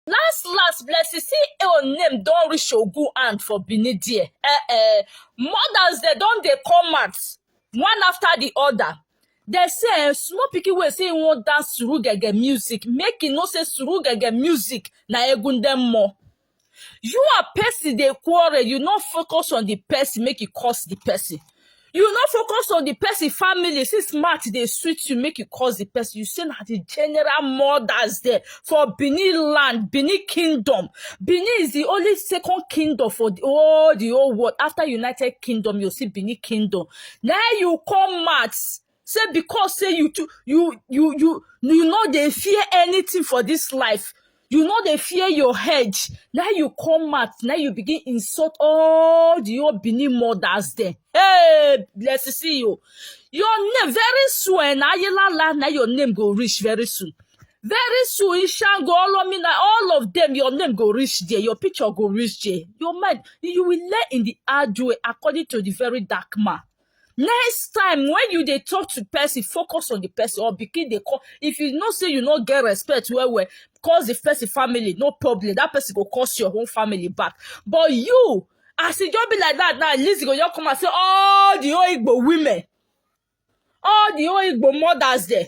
Last last blessing see your name don reach Ogun hand for Benin there. Eh eh mothers dem don dey come out one after the other. Dem say eh, small pikin wey say e wan dance suru gege music make e know say suru gege music na egun dem more. You and person dey quarrel you no focus on the person make e curse the person. you no focus on the person family since smart dey sweet you make you cause the person you say na the general mothers there for benin land benin kingdom benin is the only second kingdom for the whole the whole world after united kingdom you see benin kingdom na you come out say because say you too you you you you no dey fear anything for this life you no dey fear your head na you come out na you begin insult all the old benin mothers dem hey bless see you your name very soon eh, na ayelala na your name go reach very soon very soon ishango olomina all of them your name go reach there your picture go reach there your mind you will lay in the hard way according to the very dark man next time when you dey talk to person focus on the person or begin dey call if you know say you no get respect well well cause the person family no problem that person go cause your own family back but you as e just be like that now lizzy go just come and say all the whole igbo women all the whole igbo mothers there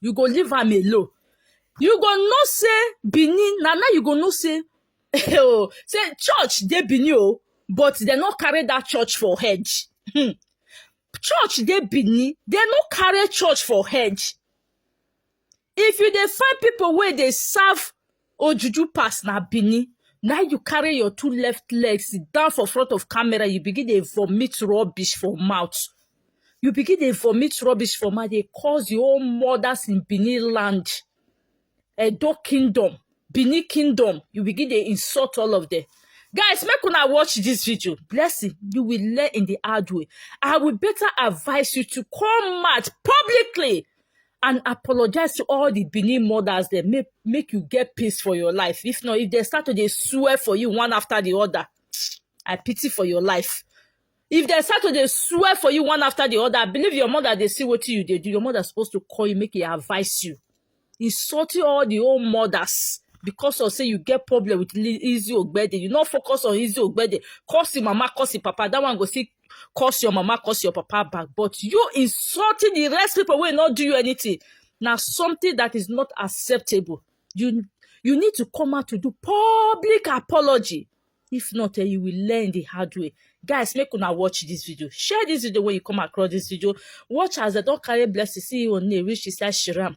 you go leave am alone you go know say benin na now you go know say oh say church dey benin o but dem no carry that church for head hmm. church dey benin dem no carry church for head if you dey find people wey dey serve ojuju pass na benin na you carry your two left legs sit down for front of camera you begin dey vomit rubbish for mouth you begin dey vomit rubbish for mouth dey curse your own mothers in benin land edo kingdom benin kingdom you begin dey insult all of them guys make una watch this video blessing you will learn in the hard way i will better advise you to come out publicly and apologize to all the Benin mothers dem make make you get peace for your life if not if they start to dey swear for you one after the other I pity for your life if they start to dey swear for you one after the other I believe your mother dey see wetin you dey do your mother suppose to call you make e advise you insulting all the old mothers because of say you get problem with Li- Lizzy Ogbede you no focus on Lizzy Ogbede curse him mama curse him papa that one go still curse your mama curse your papa back but you insulting the rest people wey no do you anything na something that is not acceptable you you need to come out to do public apology if not eh, you will learn the hard way guys make una watch this video share this video when you come across this video watch as dem don carry blessing see you on reach inside shiram